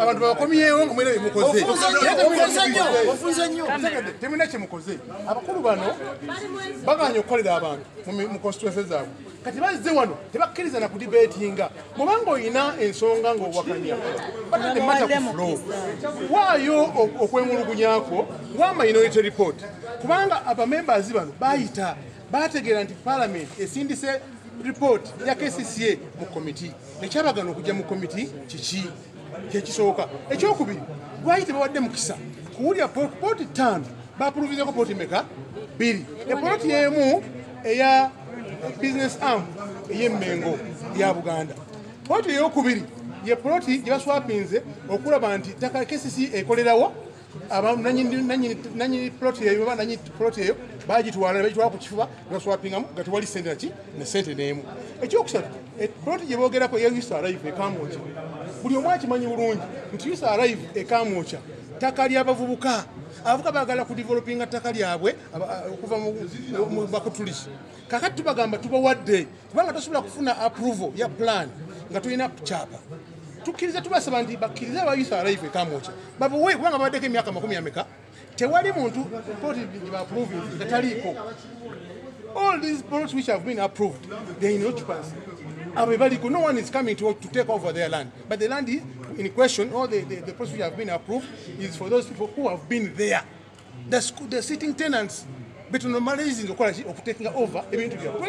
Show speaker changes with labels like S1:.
S1: abantu bakomyewo nga mwena bemukoze temulina kyemukoze abakulu bano baganya okukolera abantu mu constituense zaabwe kati bazze wano tebakkiriza na kudibetinga mubanga olina ensonga ngaowakanya batadde mata ku flo waayo okwemulugunyakwo wa minority report kubanga abamembers bano bayita bategeera nti palamenti esindise report ya kcca mu committee ekyabagana okujja mu komiti kiki kyekisooka ekyokubiri lwaki tebawadde mukisa kuwulira pooti ttaano bapuluvizeko pooti meka bbiri epooti emu eya business arm ey'emmengo ya buganda pooti eyokubiri ye poloti gye baswapinze okulaba nti ttaka kcc ekolerawo nanyini plot eyo oba nanyini plot eyo bagitwala nebagitwala ku kifuba nebaswapingamu nga tewali sente naki ne sente neemu ekyokusatu e, plot gye boogerako ye usa arrive ekamwokya buli omu akimanyi bulungi nti usa arrive ekamwokya ttaka ly'abavubuka abavuka bagala ku developinga ttaka lyabwe okuva mu bakutulisi kakati tubagamba tubawadde kubanga tosobola kufuna approval ya plan nga tulina kukyapa tukkiriza tubasaba nti bakkirize aba youth alive ekamwoca babuwe kubanga babaddeko emyaka makumi ameka tewali muntu koti gyebaproving nga taliiko all these products which have been approved they in occupancy abo bebaliko no one is coming to, to take over their land but the land is in question or the, the, the products which have been approved is for those people who have been there the, school, the sitting tenants betunomalizinga okukola okutekinga over ebintu byabwe